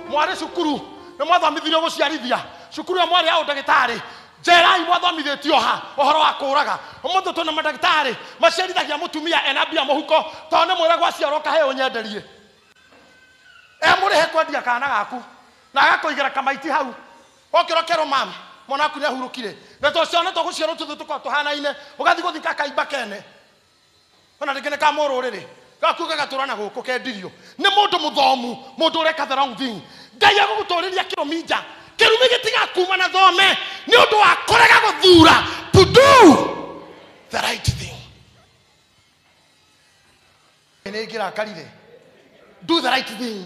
mwarĩ cukuru nĩ mwathomithirio gũciarithia cukuru ĩyo mwarĩ ya ũndagĩtarĩ njerai mwathomithĩtio ha ũhoro wa kũũraga ũmũthĩ twĩna mandagĩtarĩ maciarithagia mũtumia ena mbia mũhuko tondũ nĩ mwĩra gwaciarwo kahĩĩ ũnyenderie e mũrĩhe kwendia kana gaku na agakũigĩra kamaiti hau okĩra kerwo mam mwana waku nĩ ahurũkire na twaciarwo nĩ twagũciarwo tũthu tũkorwo tũhanaine ũgathiĩ gũthika kaimba kene o na rĩngĩ nĩ ka mũrũrĩrĩ gaku gagatũra na gũkũ kendirio nĩ mũndũ mũthomu mũndũ ũreka the wrong thing ngai agũgũtũrĩria kĩrumi nja kĩrumi gĩtigakuma na thome nĩ ũndũ wa kũrega gũthura to do the right thing nĩ ngĩrakarire do the right thing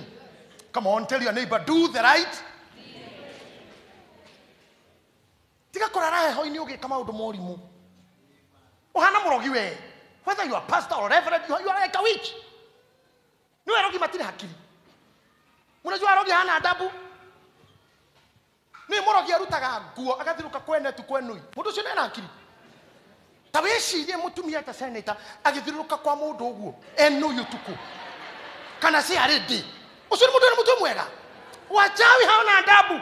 come on tell your neighbor do the right tiga kũrara heho-inĩ ũgĩka maũndũ morimũ ũhana mũrogi we whether you are pastor or reverend you are, you are like a witch nĩ werogi matirĩ hakiri mũnajua arogi hana ndabu nĩ mũrogi arutaga nguo agathirũka kwene tu kwenũi mũndũ ũcio nena hakiri ta wĩcirie mũtumia ta seneta agĩthirũka kwa mũndũ ũguo enũi ũtukũ kana ciarĩ ndĩ ũcio nĩ mũndũ nĩ mũtwe mwega wachawi haona ndabu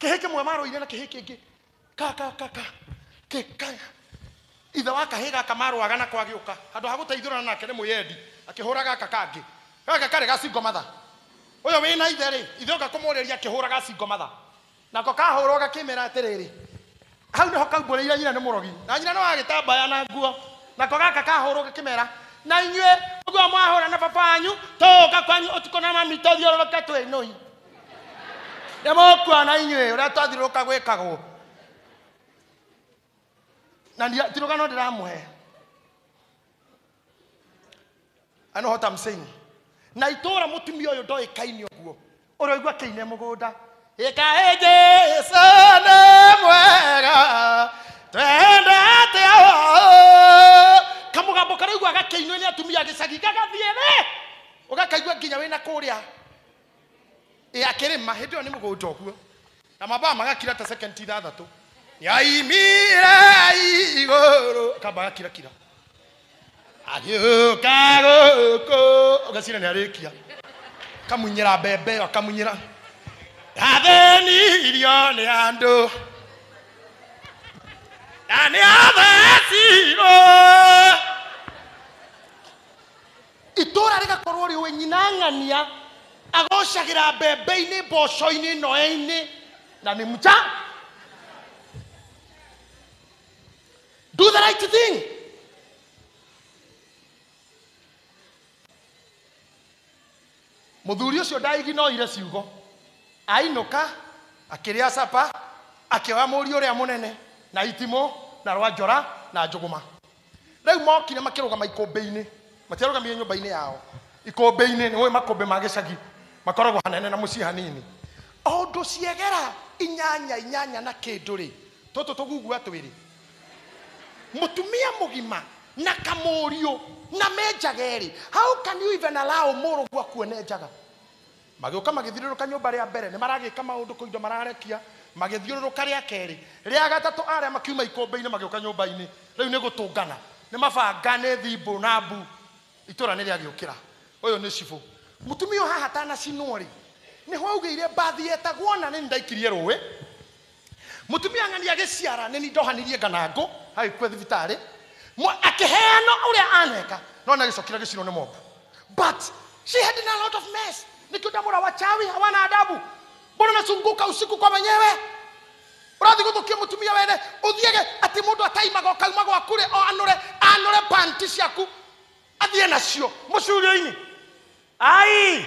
kĩhĩ kĩmwe marũire na kĩhĩ kĩngĩ ka ka ka ka kĩ ka ithe wa kahĩ gaka marũaga nako agĩũka handũ ha gũteithũrana nake nĩ mwĩyendi akĩhũra gaka kangĩ gaka karĩ gacingo matha ũyũ wĩ na ithe rĩ ithe oka kũmũrĩria akĩhũra gacingo matha nako kahũrwo gakĩmera atĩrĩrĩ hau nĩho kaumbũrĩire nyina nĩ mũrogi na nyina nĩ wa gĩtambaya na nguo nako gaka kahũrwo gakĩmera na inyuĩ ũguo mwahũra na baba wanyu tũũka kwanyu ũtukũ na mami tũthiũrũrũke twĩ nũi nĩ mũkuona inyuĩ ũrĩa twathiũrũrũka gwĩkagwo na ndia- ti rũgano ndĩramũhe I know what I'm saying. na itũra mũtumia ũyũ ndoĩ kaini ũguo ũroigua kĩine mũgũnda ĩkaĩ jesu nĩ mwega twende atĩa oo." kamũgambo karaigua gakĩinwo nĩ atumia gĩcagi gagathiĩ rĩ ũgakaigua nginya wĩna kũrĩa ĩ akĩrĩma hĩndĩ ĩyo nĩ mũgũnda ũguo na mambaa magakira ta sekendi ithathatũ yaimire igũrũ akamba agakirakira agĩũka gũkũ ũgacira nĩ arĩkia akamunyĩra mbembe ĩyo akamunyĩra athĩnirio nĩ andũ na nĩ athecirwo itũũra rĩgakorwo rĩũĩ nyina ng'ania agocagĩra mbembe-inĩ mboco-inĩ noe-inĩ na nĩ mja do the right thing mũthuri ũcio ndaiginoire ciugo ainũka akĩrĩa capa akĩoya mũriũ ũrĩa mũnene na itimũ na rwanjora na njũgũma rĩu mokire makĩrũgama ikũmbĩ-inĩ matiarũgamire nyũmba-inĩ yao ikũmbĩ-inĩ nĩ ũĩ makũmbĩ ma gĩcagi makoragwo hanene na mũciĩ hanini o ũndũ ciegera inyanya inyanya na kĩndũ rĩ tũtũ tũgugua twĩrĩ mũtumia mũgima na kamũriũ na menjaga erĩ how can you even allow mũrũguo kuone njaga Magĩũka magĩthiũrũrũka nyũmba rĩa mbere, nĩmaragĩka maũndũ kũu indo mararekia, magĩthiũrũrũka rĩa kerĩ, rĩa gatatũ arĩa makiuma ikũmbĩ-inĩ magĩũka nyũmba-inĩ, rĩu nĩ gũtũngana, nĩ mabanga, nĩ thimbũ na mbu, itũra nĩ rĩagĩũkĩra. Ũyũ nĩ cibũ. Mũtumia ũyũ haha atanacinwo-rĩ, nĩho augĩire mbathi yetagwo na nĩnĩ ndaikirie rũĩ. Mũtumia ng'ani agĩciara nĩ ni ndohanirie nganangũ, agĩkua thibitarĩ, Mwa- akĩheanwo ũrĩa aneka, no nĩ agĩcokire agĩcinwo nĩ mobu. But she had done a lot of mess. Nĩkĩo ndamwĩra wachawi hawana adabu. Mbona unazunguka usiku kwa wenyewe? Ũrathiĩ gũthũkia mũtumia wene, ũthiage atĩ mũndũ ataimaga ũkauma gwaku rĩ, o anũre, anũre panti ciaku, athiĩ nacio mũcurio-inĩ. Ai!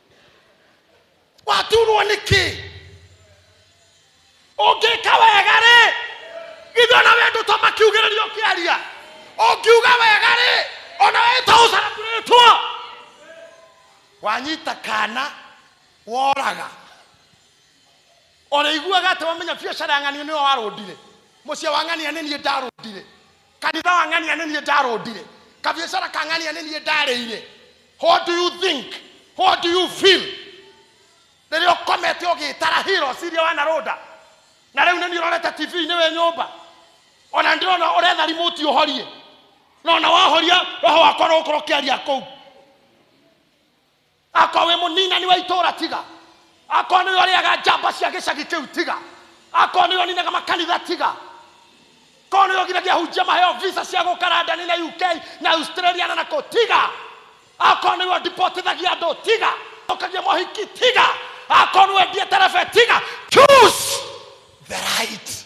waturwo nĩ kĩ ũngĩka wega rĩ githĩ ona we ndũto makiugĩrĩria ũkĩaria ũngiuga wega rĩ ona we to ũcarabũrĩtwo wanyita kana woraga ũrĩiguaga atĩ wamenya biacara ya ng'ania nĩwe warũndire mũciĩ wa ng'ania nĩ niĩ ndarũndire kanitha wa ng'ania nĩ niĩ ndarũndire kabiacara ka ng'ania nĩ niĩ ndarĩire what do you think what do you feel rĩrĩa ũkomete ũgĩtara hira ũcirie wanarũnda na rĩu nĩ niĩ ũrorete tv-inĩ wĩ nyũmba ona ndĩrona ũretha rimoti ũhorie na ona wahoria roho wakwa no gũkorwo ũkĩaria kũu akorwo wĩ mũninani wa itũũra tiga akorwo nĩwe ũrĩaga njamba cia gĩcagi kĩu tiga akorwo nĩwe ũninaga makanitha tiga korwo nĩwe ũgiragia hunjia maheo visa cia gũka randani na uk na australia na nakũ tiga akorwo nĩwe ũndipotithagia andũ tiga ũkagia mohiki tiga akorwo nĩwe ndie terebe tiga choose the right